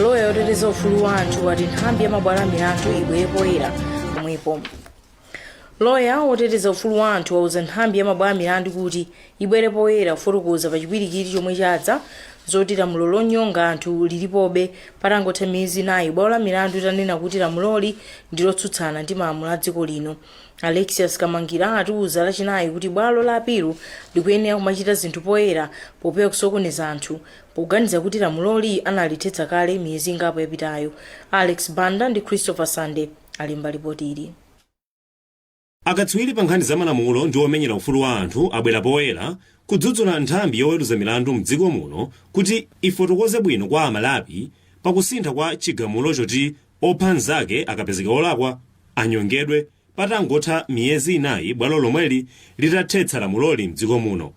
loya woteteza ufulu wa anthu wati nthambi ya mabwalo a milandu ibwere poyera pomwepo loya woteteza ufulu wa anthu wauza nthambi ya mabwalo a milandu kuti ibwere poyera kufotokoza pa chipwirikiti chomwe chadza zoti lamulo lonyonga anthu lilipobe patangotha miyezi inayi bwalo la milandu litanena kuti lamuloli ndi lotsutsana ndi malamulo a dziko lino alexius kamangila watiuza lachinayi kuti bwalo la apilu likuyenera kumachita zinthu poyera popewa kusokoneza anthu Poganiza kuti lamuloli analithetsa kale miyezi ingapo yapitayo, Alex Banda ndi Christopher Sande alemba lipoti ili. Akatswiri pa nkhani za malamulo ndi omenyera ufulu wa anthu abwera poyera kudzudzula nthambi yoweruza milandu m'dziko muno kuti ifotokoze bwino kwa Amalawi pa kusintha kwa chigamulo choti opha mnzake akapezeka wolakwa anyongedwe patangotha miyezi inayi bwalo lomweli litathetsa lamuloli m'dziko muno.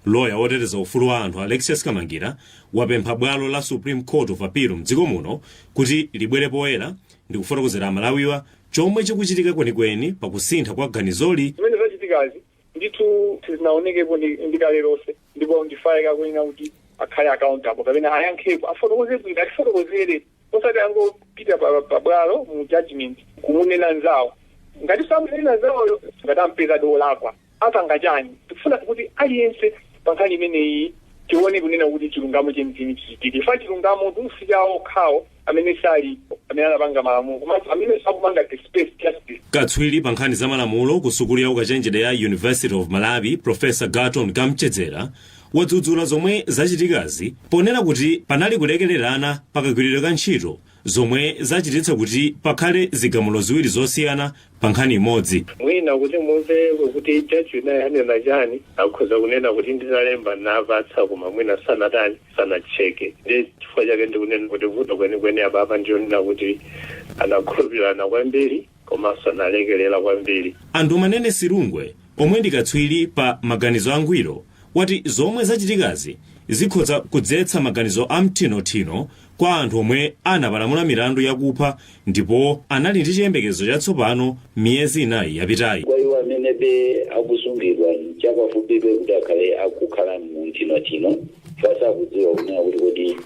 Loya woteteza ufulu wa anthu Alexius Kamangila wapempha bwalo la Supreme Court of Appeal m'dziko muno kuti libwere poyera ndikufotokozera Amalawiwa chomwe chikuchitika kwenikweni pa kusintha kwa ganizoli. Zimene zachitikazi ndithu sizinaonekepo ndi kale lonse ndipo ndi ifeyo akuyenera kuti akhale accountable kapena ayankhepo afotokoze bwino atifotokozere osati angopita pa bwalo mu judgment kumunena nzawo ngati samunena nzawoyo ngati ampeza dolakwa apanga chani tikufuna kuti aliyense pankhani imeneyi tione kunena kuti chilungamo chenicheni chichitike chifukwa chilungamotu si chawo okhawo amene salipo amene anapanga malamulo komanso amene akupanga dispense justice katswiri pa nkhani za malamulo ku sukulu ya ukachenjede ya university of malawi profesa garton kamchedzera wadzudzula zomwe zachitikazi ponena kuti panali kulekererana pakagwiridwe ka ntchito zomwe zachititsa kuti pakhale zigamulo ziwiri zosiyana pa nkhani imodzi. Mwina kuti mumve kuti judge winayo anena chani akhoza kunena kuti nditalemba ndinapatsa koma mwina sanatani sanatcheke ndiye chifukwa chake ndikunena kuti vuto kwenikweni apapa ndilonena kuti anakhulupirirana kwambiri komanso analekerera kwambiri. A Ndumanene Silungwe omwe ndi katswiri pa maganizo angwiro wati zomwe zachitikazi zikhoza kudzetsa maganizo a mthinothino Kwa anthu omwe anapalamula milandu ya kupha ndipo anali ndi chiyembekezo chatsopano miyezi inayi yapitayi. Kwa iwo amenebe akusungidwa, nchapafupibe kuti akhale akukhala mu mthinothino chifukwa sakudziwa kunena kuti kodi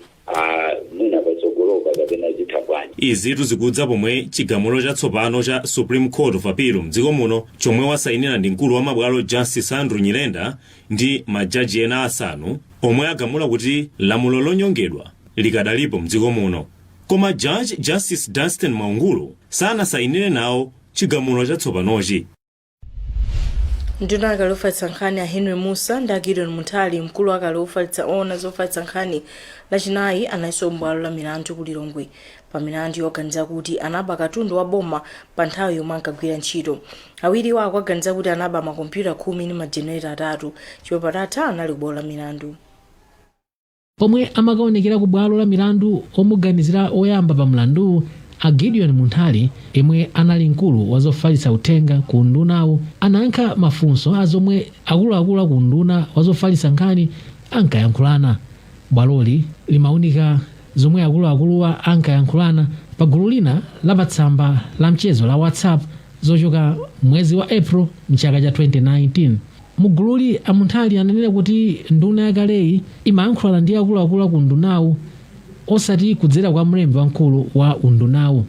mwina patsogolopa kapena zitha bwanji. Izitu zikudza pomwe chigamulo chatsopano cha Supreme Court of Appeal mdziko muno chomwe wasainira ndi mkulu wa mabwalo Justice Andrew Nyirenda ndi majaji ena asanu omwe agamula kuti lamulo lonyongedwa likadalipo mdziko muno koma judge justice dustin mwaungulu sanasayinire nawo chigamulo chatsopanochi nduna akale ofalitsa nkhani a henry mussa ndi a gideon munthali mkulu akale ofalitsa oona zofalitsa nkhani lachinayi analinso m'bwalo la milandu ku lilongwe pa milandu yoganiza kuti anaba katundu wa boma pa nthawi yomwe ankagwira ntchito awiriwa akuwaganiza kuti anaba makompyuta khumi ndi majenereta atatu chimwemwe padatha anali kubwalo la milandu pomwe amakaonekera ku bwalo la milandu omuganizira oyamba pa mlanduwu a gideon munthali yemwe anali mkulu wa zofalitsa uthenga ku undunawu anayankha mafunso a zomwe akuluakulu a ku unduna wa zofalitsa nkhani ankayankhulana bwaloli limaunika Zomwe akuluakuluwa ankayankhulana pa gulu lina la pa tsamba la mchezo la WhatsApp zochoka mwezi wa April mchaka cha 2019. Mu gululi, a Munthali ananena kuti nduna yakaleyi imayankhulana ndi akuluakulu a ku undunawu osati kudzera kwa mlembi wamkulu wa undunawu.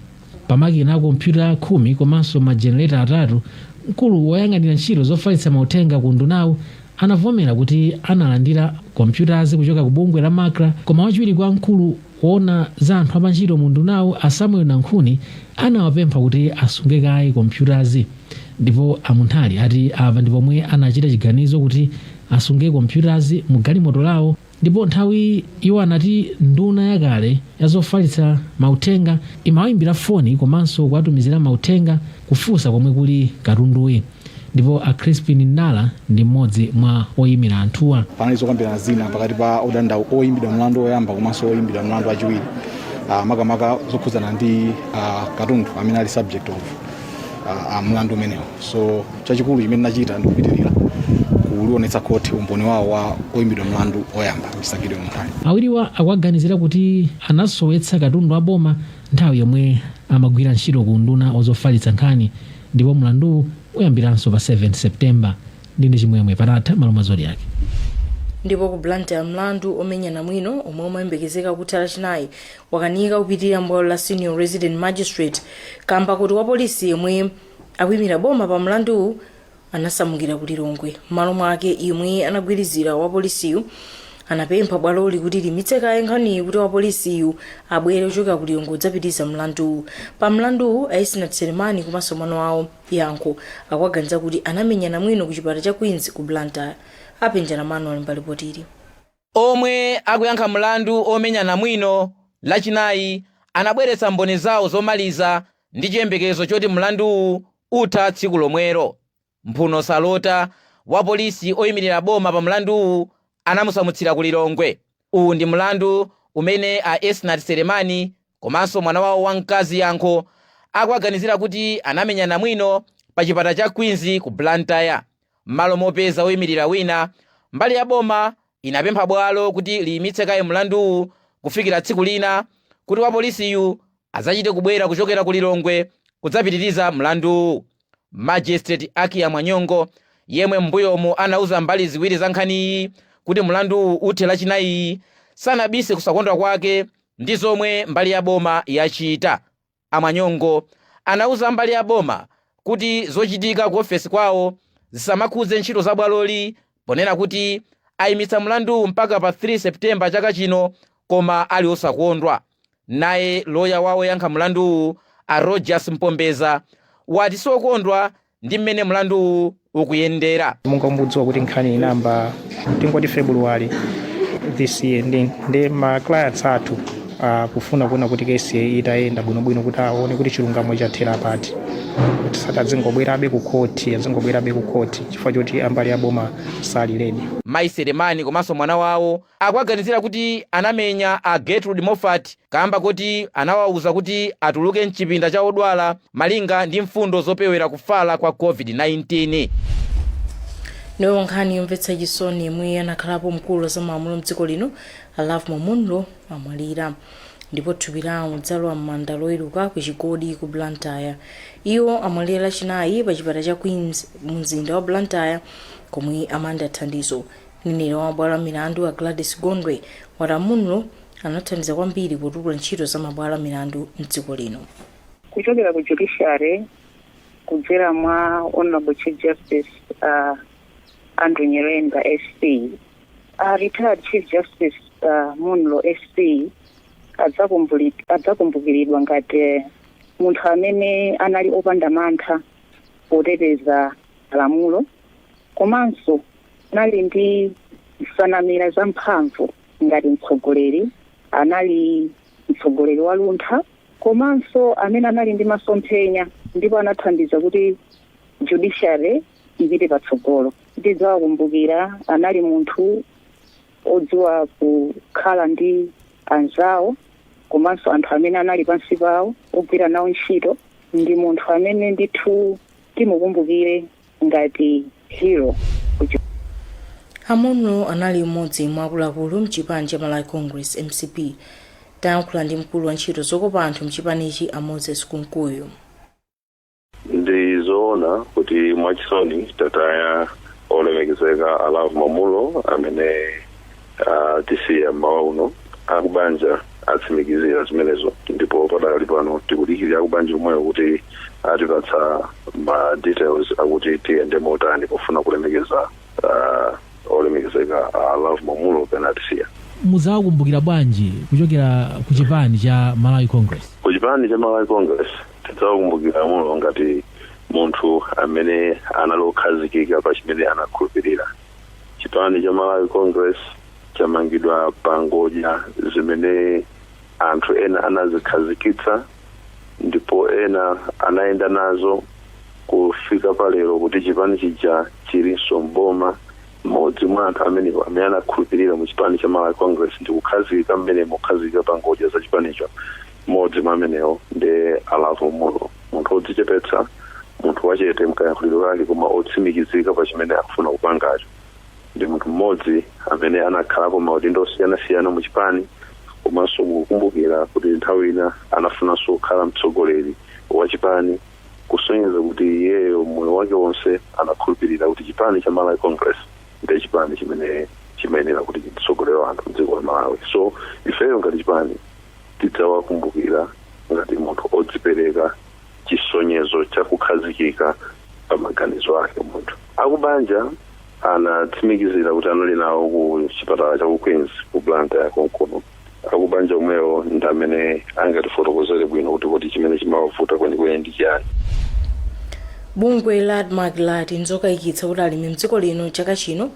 Pa makina a kompyuta khumi komanso ma generator atatu, mkulu woyang'anira ntchito zofalitsa mauthenga ku undunawu anavomera kuti analandira kompyutazi kuchoka ku bungwe la Macra koma wachiwiri kwa mkulu woona za anthu apantchito mu undunawu a Samuel Nankhuni anawapempha kuti asunge kaye kompyutazi ndipo a Munthali ati apa ndi pomwe anachita chiganizo kuti asunge kompyutazi mu galimoto lawo Ndipo nthawi iwo anati nduna yakale ya zofalitsa mauthenga imawayimbira foni komanso kuwatumizira mauthenga kufunsa komwe kuli katunduyi ndipo a Chrispin Ndala ndi m'modzi mwa oyimira anthuwa. Panali zokambirana zina pakati pa odandaula, oyimbidwa mlandu oyamba komanso oyimbidwa mlandu wachiwiri ah, makamaka zokhudzana ndi ah, katundu amene ali subject of ah, ah, mlandu umenewu so chachikulu chimene nachita ndi kupitirira kuliwonetsa khoti umboni wawo wa oyimbidwa mlandu oyamba Mr Gideon Munthali. Awiriwa akuwaganizira kuti anasowetsa katundu wa boma nthawi yomwe amagwira ntchito ku unduna ozofalitsa nkhani ndipo mlanduwu uyambiranso pa 7 September. Ndine Chimwemwe Padatha malo mwa Zodiak. ndipo ku blantyre mlandu omenya namwino omwe umayembekezeka kutha lachinayi wakanika kupitirira mbwalo la senior resident magistrate kamba koti wapolisi yemwe akuimira boma pa mlanduwu anasamukira ku lilongwe m'malo mwake yemwe anagwirizira wapolisiyu anapempha bwaloli kuti liimitse kaye nkhaniyi kuti wapolisiyu abwere kuchoka ku lilongwe kudzapitiriza mlanduwu pa mlanduwu a esnart selemani komanso mwana wawo yankho akuwaganiza kuti anamenya namwino ku chipatala cha queens ku blantyre happy njalam'mano ali pa lipotili omwe akuyankha mlandu omenya namwino lachinayi anabweretsa mboni zawo zomaliza ndi chiyembekezo choti mlanduwu utha tsiku lomwelo. mphuno salota, wapolisi oyimirira boma pa mlanduwu anamusamutsira ku Lilongwe. Uwu ndi mlandu umene a Esnart Selemani komanso mwana wawo wamkazi Yankho akuwaganizira kuti anamenya namwino pa chipatala cha Queens ku Blantyre. M'malo mopeza woyimirira wina, mbali ya boma inapempha bwalo kuti liyimitse kaye mlanduwu kufikira tsiku lina kuti wapolisiyu adzachite kubwera kuchokera ku Lilongwe kudzapitiriza mlanduwu. Magistrate Akiah Mwanyongo, yemwe m'mbuyomu anauza mbali ziwiri za nkhaniyi kuti mlanduwu uthe Lachinayiyi, sanabise kusakondwa kwake ndi zomwe mbali ya boma yachita. A Mwanyongo anauza mbali ya boma kuti zochitika ku ofesi kwawo zisamakhudze ntchito za bwaloli ponena kuti ayimitsa mlanduwu mpaka pa 3 September chaka chino koma ali osakondwa. Naye loya wa oyankha mlanduwu a Rodgers Mpombeza wati siokondwa ndi mmene mlanduwu ukuyendera. monga mukudziwa kuti nkhani inayamba tingoti February this year ndi ma clients athu akufuna kuona kuti kesi itayenda bwinobwino kuti aone kuti chilungamo chathera pati tisati adzingobwerabe ku khoti adzingobwerabe ku khoti chifukwa choti ambali aboma sali ready Mayi Selemani komanso mwana wawo akuwaganizira kuti anamenya a Gertrude Moffat kaamba koti anawauza kuti atuluke m'chipinda cha odwala malinga ndi mfundo zopewera kufala kwa COVID-19. Nayo nkhani yomvetsa chisoni yemwe anakhalapo mkulu wa za malamulo mdziko lino a Lovemore Munlo amwalira ndipo thupi lawo lidzalowa m'manda loweruka ku Chigodi ku Blantyre. Iwo amwalira lachinayi pa chipatala cha Queens mu mzinda wa Blantyre komwe amalandira thandizo. Mneneri wa mabwalo a milandu a Gladys Gondwe wati a Munlo anathandiza kwambiri potukula ntchito za mabwalo a milandu m'dziko lino. Kuchokera ku judiciary kudzera mwa Honorable Chief Justice a Andrew Nyirenda SC, a retired Chief Justice a Munlo SC adzakumbukiridwa ngati eh, munthu amene anali opanda mantha poteteza lamulo komanso anali ndi nsanamira zamphamvu ngati mtsogoleri, anali mtsogoleri waluntha komanso amene anali ndi masomphenya ndipo anathandiza kuti judiciary ipite patsogolo. Tidzawakumbukira, anali munthu odziwa kukhala ndi anzawo komanso anthu amene anali pansi pawo ogwira nawo ntchito, ndi munthu amene ndithu timukumbukire ngati hero kucho. A Munlo anali m'modzi mwa akuluakulu mchipani cha Malawi Congress, mcp. Tayankhula ndi mkulu wa ntchito zokopa anthu mchipanichi a Moses Kunkuyu. Ndi zoona kuti mwachisoni tataya olemekezeka a Lovemore Munlo amene atisiya mmawa uno akubanja atsimikizira zimenezo ndipo padakali pano tikudikirira akubanja omwewo kuti atipatse ma details akuti tiyende motani pofuna kulemekeza ah, olemekezeka a lovemore munlo pamene atisiya muzawakumbukira bwanji kuchokera ku chipani cha malawi congress ku chipani cha malawi congress tidzawakumbukira a munlo ngati munthu amene anali okhazikika pa chimene anakhulupirira chipani cha malawi congress chamangidwa pa ngodya zimene anthu ena anazikhazikitsa ndipo ena anayenda nazo kufika palero kuti chipani chija chilinso mboma mmodzi mwa anthu amene amene anakhulupirira mu chipani cha malawi congress ndi kukhazikika mmenemo kukhazikika pa ngodya za chipanicho mmodzi mwa amenewo ndi a lovemore munlo munthu wodzichepetsa munthu wachete mkayankhuliro kake koma otsimikizika pa chimene akufuna kupangacho ndi munthu mmodzi amene anakhalapo maudindo osiyanasiyana mu chipani komanso mukukumbukira kuti nthawi ina anafunanso kukhala mtsogoleri wa chipani kusonyeza kuti iyeyo moyo wake wonse anakhulupirira kuti chipani cha malawi congress ndi chipani chimene chimayenera kuti chitsogolere anthu mdziko la malawi so ifeyo ngati chipani tidzawakumbukira ngati munthu odzipereka chisonyezo cha kukhazikika pa maganizo ake munthu akubanja anatsimikizira kuti anali nawo ku chipatala cha ku queens ku blantyre konkuno akubanja omwewo ndi amene angatifotokozere bwino kuti kodi chimene chimawavuta kwenikweni ndi chiyani bungwe la admarc lati nzokayikitsa kuti alimi mdziko lino chaka chino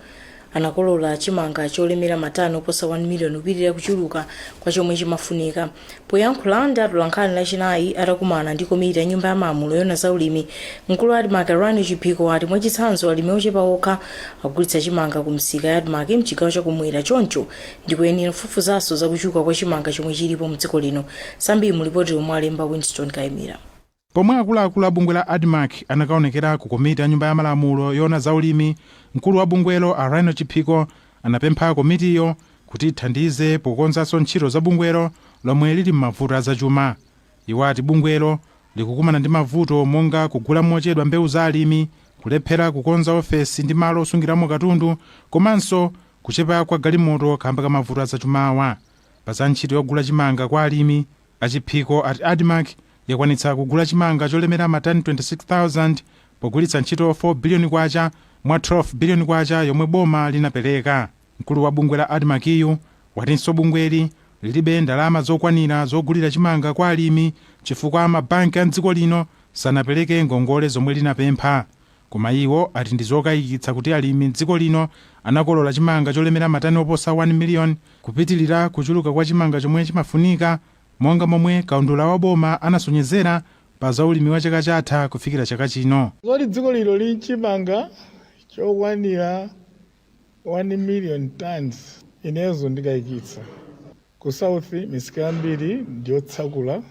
anakolola chimanga cholemera matani oposa 1 miliyoni kupitirira kuchuluka kwa chomwe chimafunika. Poyankhula ndi atolankhani lachinayi atakumana ndi komiti ya nyumba ya malamulo yoona za ulimi, mkulu wa Admarc a Rhino Chiphiko ati mwachitsanzo alimi ochepa okha akugulitsa chimanga ku misika ya Admarc mchigawo chakumwera choncho ndikoyenera kufufuzanso za kuchuluka kwa chimanga chomwe chilipo mdziko lino. Zambiri mu lipoti lomwe walemba Winston Kaimira. Pomwe akuluakulu a bungwe la Admarc anakaonekera ku komiti ya Nyumba ya Malamulo yoona za ulimi, mkulu wa bungwelo a Rhino Chiphiko anapempha komitiyo kuti ithandize pokonzanso ntchito za bungwelo lomwe lili m'mavuto a zachuma. Iwo ati bungwelo likukumana ndi mavuto monga kugula mochedwa mbewu za alimi, kulephera kukonza ofesi ndi malo osungiramo katundu komanso kuchepa kwa galimoto kaamba ka mavuto a zachumawa. Pa za ntchito yogula chimanga kwa alimi, A Chiphiko ati Admarc yakwanitsa kugula chimanga cholemera ma tani 26,000 pogwiritsa ntchito K4 biliyoni mwa K12 biliyoni yomwe boma linapereka. Mkulu wa bungwe la Admarc yu watinso bungweli lilibe ndalama zokwanira zogulira chimanga kwa alimi chifukwa ma banki a m'dziko lino sanapereke ngongole zomwe linapempha. Koma iwo ati ndi zokaikitsa kuti alimi m'dziko lino anakolola chimanga cholemera matani oposa 1 miliyoni, kupitilira kuchuluka kwa chimanga chomwe chimafunika, monga momwe kaundula wa boma anasonyezera pa za ulimi wa chaka chatha kufikira chaka chino. Zoti dziko lino lili n'chimanga chokwanira 1 miliyoni tonnes inezo ndikaikitsa. Ku South, misika yambiri ndi yotsakula,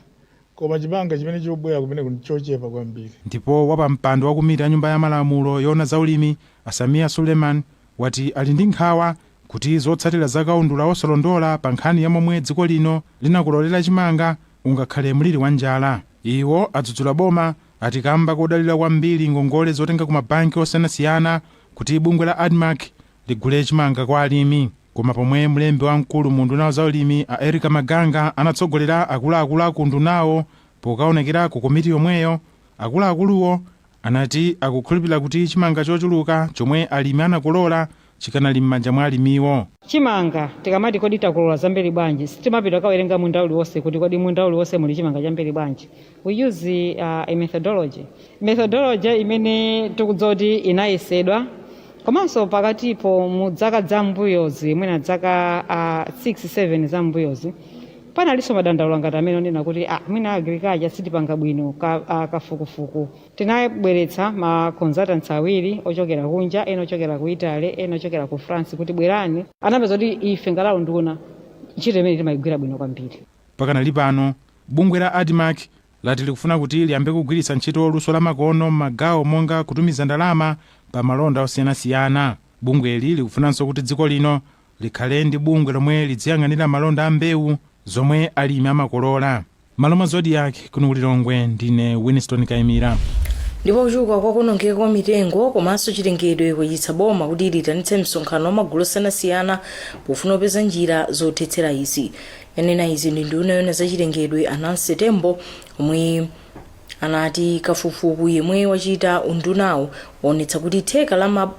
koma chimanga chimene chikubwera kumeneku ndi chochepa kwambiri. Ndipo wapampando wa komiti ya nyumba ya malamulo yoona za ulimi a Sameer Suleman wati ali ndi nkhawa kuti zotsatira za kaundula wosalondola pa nkhani ya momwe dziko lino linakololera chimanga zingakhale mliri wa njala. Iwo adzudzula boma ati kamba kodalira kwambiri ngongole zotenga ku mabanki osiyanasiyana kuti bungwe la Admarc ligule chimanga kwa alimi. Koma pomwe mlembi wamkulu mu unduna wa zaulimi a Erica Maganga anatsogolera akuluakulu a ku undunawo pokaonekera ku komiti yomweyo, akuluakuluwo anati akukhulupirira kuti chimanga chochuluka chomwe alimi anakolola chikanali m'manja mwa alimiwo. Chimanga tikamati kodi takolola zambiri bwanji, sitimapita kukawerenga munda uliwonse kuti kodi munda uliwonse muli chimanga chambiri bwanji. We use uh, a methodology methodology imene tikudziwa kuti inayesedwa komanso pakatipo mu dzaka za mbuyozi mwina dzaka uh, 6 7 za mbuyozi panalinso madandaulo ngati amene onena kuti ah, mwina agriculture sitipanga bwino ka, uh, kafukufuku tinabweretsa ma consultants awiri ochokera kunja ena ochokera ku italy ena ochokera ku france kuti bwerani anapeza kuti ife ngati unduna ntchito imene timayigwira bwino kwambiri pakanali pano Bungwe la Admarc lati likufuna kuti liyambe kugwiritsa ntchito luso la makono m'magawo monga kutumiza ndalama pa malonda osiyanasiyana. Bungweli likufunanso kuti dziko lino likhale ndi bungwe lomwe lidziyang'anira malonda a mbewu zomwe alimi amakolola. M'malo mwa Zodiak, kuno ku Lilongwe ndine Winston Kaimira. ndipo kuchuluka kwa kuonongeka kwa mitengo komanso chilengedwe kwachititsa boma kuti liitanitse msonkhano wa magulu osiyanasiyana pofuna kupeza njira zothetsera izi yanena izi ndi nduna yoona zachilengedwe a Nancy Tembo omwe anati kafukufuku yemwe wachita undunawo waonetsa kuti theka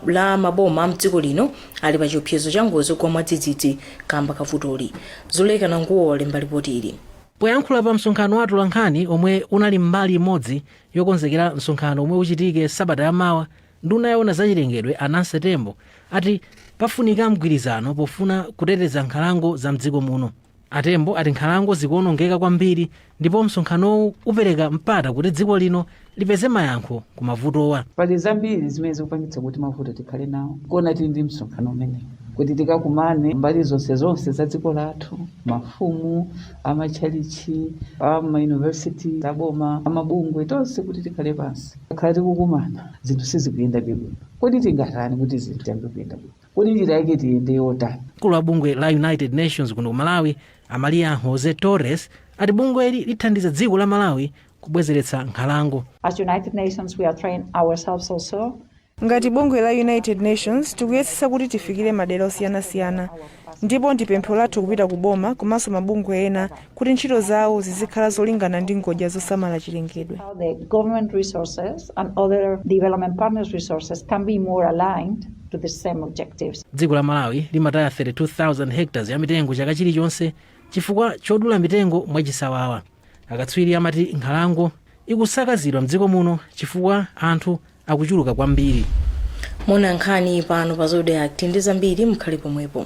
la maboma a mdziko lino ali pa chiopsezo cha ngozi zogwa mwadzidzidzi kamba kavutoli Zuleika Nanguwo walemba lipoti ili poyankhula pa msonkhano wa atolankhani omwe unali mbali imodzi yokonzekera msonkhano omwe uchitike sabata yamawa Nduna yoona zachilengedwe a Nancy Tembo ati pafunika mgwirizano pofuna kuteteza nkhalango za mdziko muno. A Tembo ati nkhalango zikuonongeka kwambiri ndipo msonkhanowu upereka mpata kuti dziko lino lipeze mayankho ku mavutowa. Pali zambiri zimene zikupangitsa kuti mavuto tikhale nawo nkona tili ndi msonkhano umenewu kuti tikakumane mbali zonse zonse za dziko lathu, mafumu, amatchalitchi, amayunivesiti aboma, amabungwe, tonse kuti tikhale pansi. Takhala tikukumana, zinthu sizikuyendabe bwino. Kodi tingatani kuti zinthu ziyambe kuyenda bwino? Kodi njira yake tiyende yotani? Mkulu wa bungwe la United Nations kuno ku Malawi, a Maria Jose Torres, ati bungweli lithandiza dziko la Malawi kubwezeretsa nkhalango. As United Nations, we are trying ourselves also Ngati bungwe la United Nations, tikuyetsetsa kuti tifikire madera osiyanasiyana ndipo ndi pempho lathu kupita ku boma komanso mabungwe ena kuti ntchito zawo zizikhala zolingana ndi ngodya zosamala chilengedwe. how the government resources and other development partners' resources can be more aligned to the same objectives. Dziko la Malawi limataya 32,000 hectares ya mitengo chaka chilichonse chifukwa chodula mitengo mwachisawawa. Akatswiri amati nkhalango ikusakazidwa mdziko muno chifukwa anthu akuchuluka kwambiri. Muona nkhani pano pa Zodiak ndi zambiri mukhale pomwepo.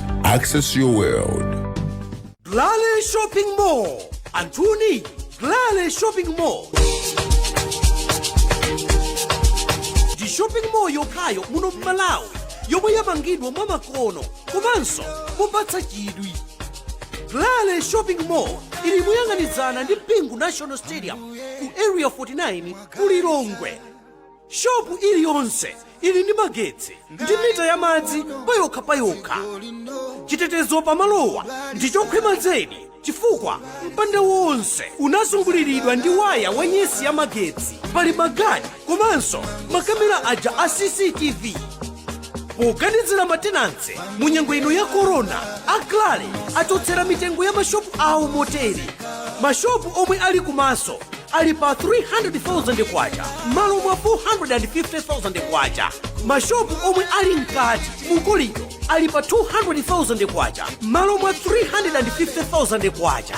Access your world. Glale Shopping Mall. Anthuni, Glale Shopping Mall. Ndi shopping mall yokhayo muno m'Malawi yomwe yamangidwa mwa makono komanso mopatsa chidwi. Glale Shopping Mall ili moyang'anizana ndi Bingu National Stadium ku Area 49 ku Lilongwe. Shopu iliyonse ili ndi magetsi ndi mita ya madzi payokha payokha. Chitetezo pamalowa ndi chokhwima zedi chifukwa mpanda wonse unazunguliridwa ndi waya wa nyesi ya magetsi. Pali magadi komanso makamera aja a CCTV poganizira matenanse mu nyengo ino ya korona a Glale achotsera mitengo ya mashopu awo motere mashopu omwe ali kumaso ali pa 300,000 kwacha m'malo mwa 450,000 kwacha mashopu omwe ali mkati mukolido ali pa 200,000 kwacha m'malo mwa 350,000 kwacha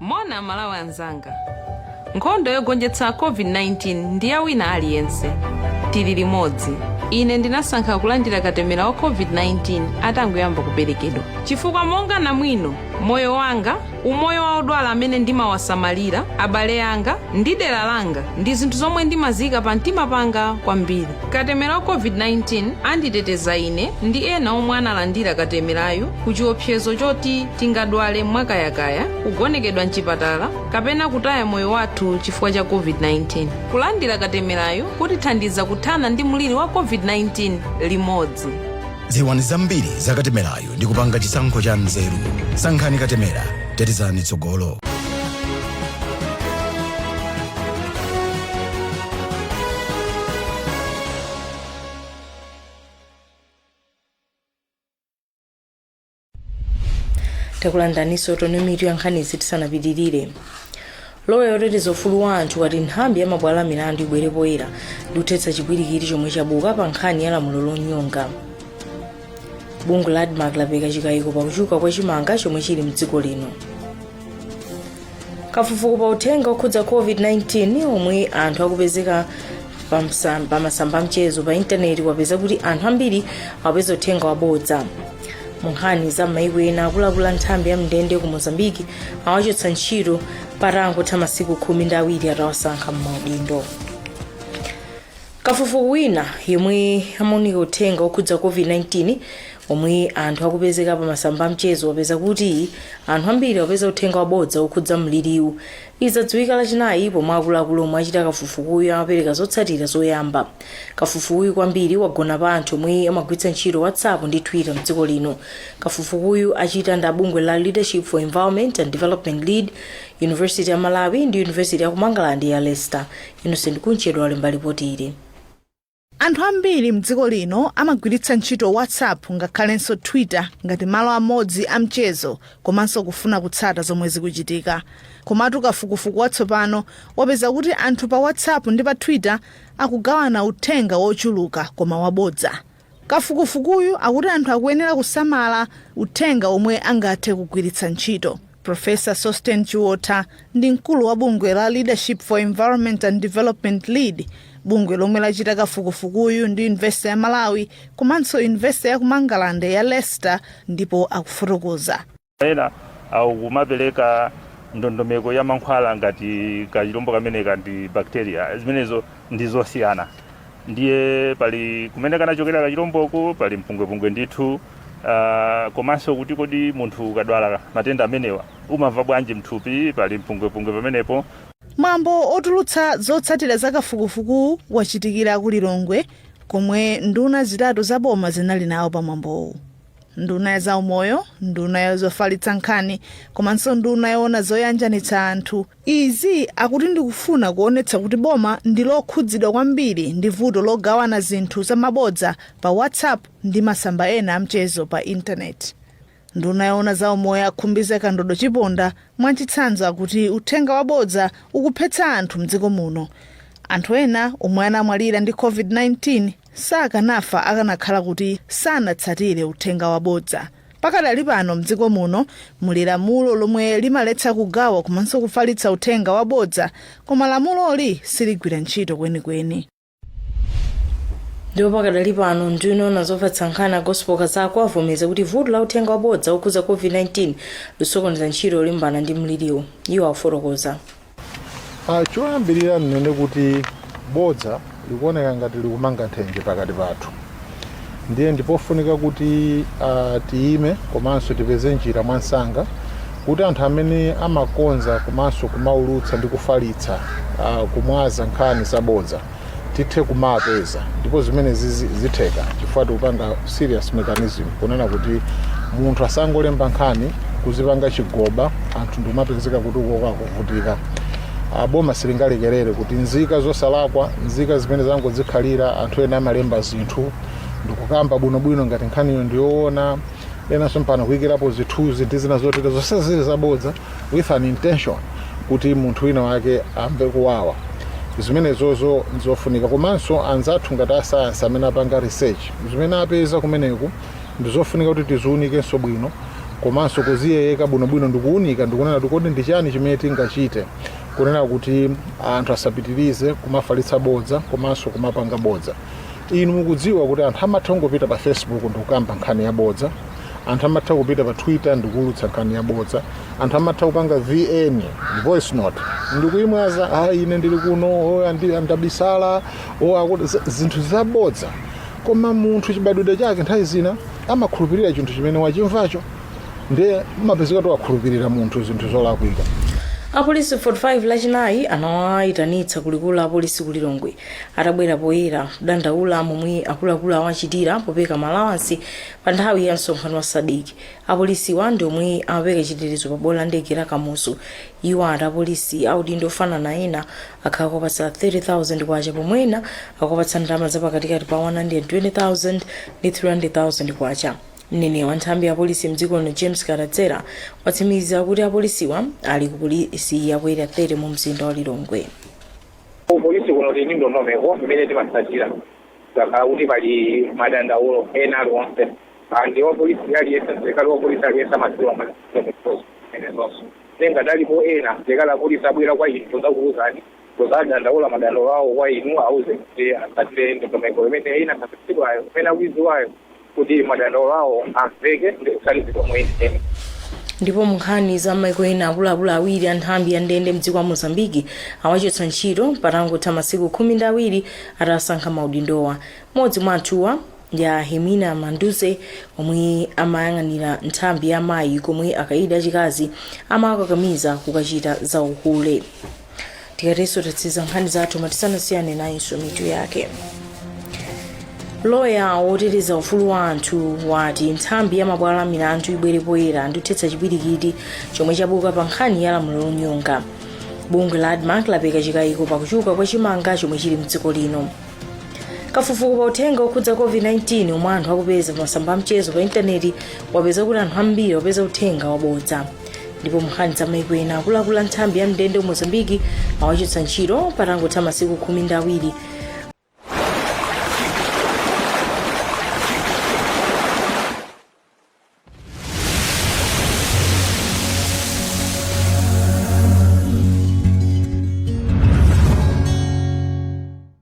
Moni amalawi anzanga nkhondo yogonjetsa covid 19 ndi ya wina aliyense tili limodzi ine ndinasankha kulandira katemera wa covid 19 atangoyamba kuperekedwa chifukwa monga namwino moyo wanga umoyo wa odwala amene ndimawasamalira abale anga ndi dera langa ndi zinthu zomwe ndimaziyika pa mtima panga kwambiri Katemera wa COVID-19 anditeteza ine ndi ena omwe analandira katemerayu ku chiopsezo choti tingadwale mwakayakaya, kugonekedwa m'chipatala kapena kutaya moyo wathu chifukwa cha COVID-19. Kulandira katemerayu kutithandiza kuthana ndi mliri wa COVID-19 limodzi. dziwani zambiri za katemerayu ndi kupanga chisankho cha nzeru sankhani katemera tetezani tsogolo takulandiraninso tione mitu ya nkhani izi tisanapitirire loya woteteza ufulu wa anthu wati nthambi ya mabwalo a milandu ibwere poyera ndi kuthetsa chipwirikiti chomwe chabuka pa nkhani ya lamulo lonyonga bungwe la admarc lapereka chikayiko pakuchuluka kwa chimanga chomwe chili mdziko lino kafukufuku pa uthenga okhudza covid-19 omwe anthu akupezeka pamasamba amchezo pa intaneti wapeza kuti anthu ambiri akupeza uthenga wabodza mu nkhani za maiko ena akuluakulu a nthambi ya mndende ku mozambiki awachotsa ntchito patangotha masiku khumi ndi awiri atawasankha m'maudindo Kafukufuku wina yemwe amaunika uthenga wokhudza COVID-19 omwe anthu akupezeka pa masamba amchezo wapeza kuti anthu ambiri akupeza uthenga wabodza wokhudza mliriwu. Izi zadziwika lachinayi pomwe akuluakulu omwe achita kafukufukuyu amapereka zotsatira zoyamba. Kafukufukuyu kwambiri wagona pa anthu omwe amagwiritsa ntchito WhatsApp ndi Twitter mdziko lino. Kafukufukuyu achita ndi abungwe la Leadership for Environment and Development Lead, University ya Malawi ndi University yaku Mangalande ya Leicester. Innocent Kunchedwa walemba lipoti ili. Anthu ambiri m'dziko lino amagwiritsa ntchito WhatsApp ngakhalenso Twitter ngati malo amodzi a mchezo komanso kufuna kutsata zomwe zikuchitika. Komatu kafukufuku watsopano wapeza kuti anthu pa WhatsApp ndi pa Twitter akugawana uthenga wochuluka koma wabodza. Kafukufukuyu akuti anthu akuyenera kusamala uthenga omwe angathe kugwiritsa ntchito. Professor Sosten Chiotha ndi mkulu wa bungwe la Leadership for Environment and Development lead, bungwe lomwe lachita kafukufukuyu ndi University ya Malawi komanso University ya ku Mangalande ya Leicester ndipo akufotokoza. Ena akumapereka ndondomeko ya mankhwala ngati kachilombo kameneka ndi bacteria, zimenezo ndi zosiyana. Ndiye pali kumene kanachokera kachilomboko, pali mpungwepungwe ndithu. Uh, komanso kuti kodi munthu ukadwala matenda amenewa umamva bwanji mthupi, pali mpungwepungwe pamenepo. Mwambo otulutsa zotsatira za kafukufukuwu wachitikira ku Lilongwe komwe nduna zitatu za boma zinali nawo pa mwambowu. nduna ya zaumoyo nduna ya zofalitsa nkhani komanso nduna yoona zoyanjanitsa anthu izi akuti ndikufuna kuonetsa kuti boma ndi lokhudzidwa kwambiri ndi vuto logawana zinthu za mabodza pa whatsapp ndi masamba ena amchezo pa intaneti nduna yoona zaumoyo a khumbize kandodo chiponda mwachitsanzo akuti uthenga wabodza ukuphetsa anthu mdziko muno anthu ena omwe anamwalira ndi covid-19 sakanafa akanakhala kuti sanatsatire uthenga wabodza pakadali pano mdziko muno muli lamulo lomwe limaletsa kugawa komanso kufalitsa uthenga wabodza koma lamuloli siligwira ntchito kwenikweni ndipo pakadali pano nduna yoona zofalitsa nkhani a gospel kazako avomereza kuti vuto la uthenga wabodza okhudza covid-19 lisokoneza ntchito yolimbana ndi mliriwo iwo afotokoza Ah, choyambirira nnene kuti bodza likuoneka ngati likumanga nthenje pakati pathu ndiye ndipofunika kuti ah, tiyime komanso tipeze njira mwansanga kuti anthu amene amakonza komanso kumaulutsa ndi kufalitsa ah, kumwaza nkhani zabodza tithe kumapeza ndipo zimene zizi- zitheka chifukwa tikupanga serious mechanism kunena kuti munthu asangolemba nkhani kuzipanga chigoba anthu ndikumapezeka kuti akuvutika Ah, boma silingalekerere kuti nzika zosalakwa nzika zimene zangodzikhalira anthu ena amalemba zinthu ndikukamba bwinobwino ngati nkhaniyo ndiyoona enanso mpaka kuyikirapo zithunzi ndi zina zotere zonse zili zabodza with an intention kuti munthu wina wake amve kuwawa zimenezozo ndizofunika komanso anzathu ngati asayansi amene apanga research zimene apeza kumeneku ndizofunika kuti tiziunikenso bwino komanso kuziyeyeka bwinobwino ndikuunika ndikunena kuti kodi ndi chani chimene tingachite kunena kuti anthu asapitirize kumafalitsa bodza komanso kumapanga bodza inu mukudziwa kuti anthu amatha kungopita pa facebook ndikukamba nkhani yabodza anthu amatha kupita pa twitter ndikuulutsa nkhani yabodza anthu amatha kupanga vn voice note ndikuyimwaza a ine ndili kuno o, andi- ndabisala o, akuti- z- zinthu zabodza koma munthu chibadwidwe chake nthawi zina amakhulupirira chinthu chimene wachimvacho ndiye umapezeka kuti wakhulupirira munthu zinthu zolakwika apolisi 45 lachinayi anawayitanitsa kulikulu la apolisi ku lilongwe atabwera poyera kudandaula momwe akuluakulu awachitira popereka malawansi Pa nthawi ya msonkhano wa Sadc, apolisiwa ndi omwe amapereka chitetezo pa bwalo la ndege la Kamuzu. Iwo ati apolisi a udindo ofanana ena akhala akuwapatsa K30,000 pomwe ena akuwapatsa ndalama za pakatikati pa K120,000 ndi K300,000. Mneneri wa nthambi ya apolisi mdziko lino James Kadadzera watsimikiza kuti apolisiwa ali ku polisi ya ku Area 30 mu mzinda wa Lilongwe. Ku polisi kuno tili ndi ndondomeko imene timatsatira kutsatira kuti pali madandaulo ena aliwonse ndi wapolisi aliyense msilikali wapolisi aliyense amadziwa mwinanso ngati alipo ena msilikali apolisi abwera kwa inu kudzakuuzani kudzadandaula madandaulo awo kwa inu auze kuti atsatire ndondomeko imene inakhazikitsidwayo imene akuidziwayo kuti madandaulo awo amveke ndi kuthandizidwa moyenera. ndipo munkhani za maiko ena akuluakulu awiri a nthambi ya ndende mdziko la mozambiki awachotsa ntchito patangotha masiku khumi ndi awiri atasankha maudindowa mmodzi mwa anthuwa ndi a hemina manduze omwe amayang'anira nthambi ya mayi komwe akaidi achikazi amawakakamiza kukachita za uhule tikatero tatsiriza nkhani zathu koma tisanasiyane nayinso mitu yake loya woteteza ufulu wa anthu wati nthambi ya mabwalo a milandu ibwere poyera ndikuthetsa chipwirikiti chomwe chabuka pa nkhani ya lamulo lonyonga bungwe la admarc lapereka chikayiko pakuchuluka kwa chimanga chomwe chili mdziko lino kafukufuku pa uthenga okhudza covid-19 omwe anthu akupeza pa masamba amchezo pa intaneti wapeza kuti anthu ambiri akupeza uthenga wabodza ndipo munkhani za maiko ena akuluakulu a nthambi ya ndende ku mozambiki awachotsa ntchito patangotha masiku khumi ndi awiri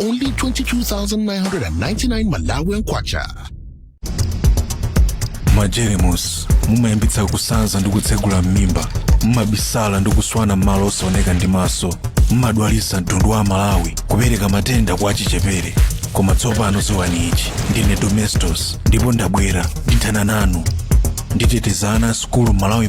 Only 22,999 Malawian Kwacha. majeremusi mumayambitsa kusanza ndi kutsegula m'mimba mumabisala ndi kuswana m'malo osaoneka ndi maso mumadwalitsa mtundu wa amalawi kupereka matenda kwa achichepere koma tsopano dziwani ichi ndine domestos ndipo ndabwera ndithana nanu nditeteza ana a sukulu malawi